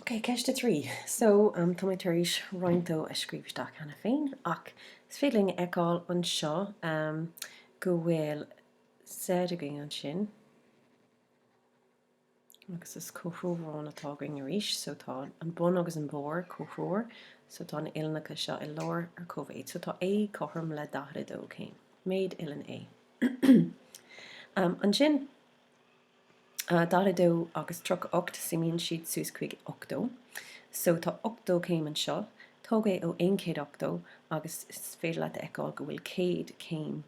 Ok, ceist a trí. So, tá mé tar éis roinnt dó a scríobh isteach cheana féin, ach is féidir linn a fheiceáil anseo go bhfuil Z againn ansin, agus is comhthreomharán atá againn arís, so tá an bun agus an barr comhthreomhar, so tá na uillinneacha seo i lár ar cóimhéid, so tá A cothrom le 42 céim, méid uillinn A. Ansin, 42 agus 38 suimíonn siad suas chuig 80. So tá 80 céim anseo, tóg é ó 180 agus is féidir leat a fheiceáil go bhfuil 100 céim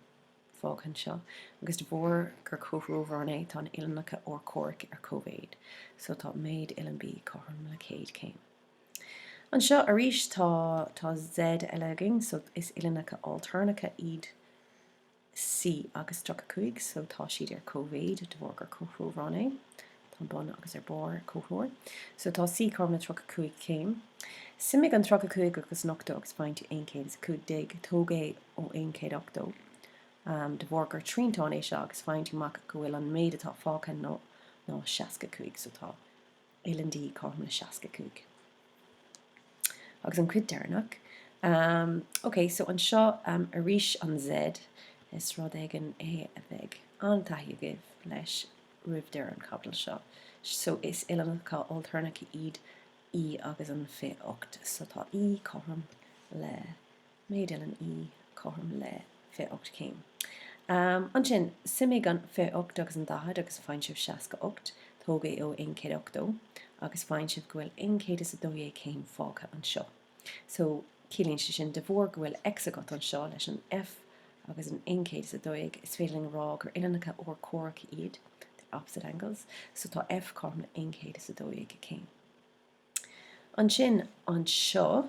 fágtha anseo, agus de bharr gur comhthreomharán é tá an uillinneacha urchomhaireacha ar cóimhéid, so tá méid uillinn B cothrom le 100 céim. Anseo arís tá tá Z eile againn, so is uillinneacha ailtéarnacha iad. C agus 35 so tá siad ar cóimhéid de bharr gur comhthreomharán é. Tá an bun agus ar barr ar comhthreomhar. So tá C cothrom le 35 céim. Suimigh an 35 agus an 80 agus faigheann tú 115. Tóg é ó 180. De bharr gur triantán é seo agus faigheann tú amach go bhfuil an méid atá fágtha ná 65 so tá uillinn D cothrom le 65. Agus an chuid deireanach. Ok, so anseo arís an Z, is rud éigin é a bheidh an-taithí agaibh leis roimh deireadh an chaibidil seo. So is uillinneacha ailtéarnacha iad E agus an 28. So tá E cothrom le. Méid uillinn E cothrom le 28 céim. Ansin, suimigh an 28 agus an 40 agus faigheann sibh 68. Tóg é ó 180 agus faigheann sibh go bhfuil 112 céim fágtha anseo. So, ciallaíonn sé sin, de bharr go bhfuil X agat anseo leis an F agus an 112, is féidir linn a rá gur uillinneacha urchomhaireacha iad, they're opposite angles, so tá F cothrom le 112 céim. Ansin, anseo.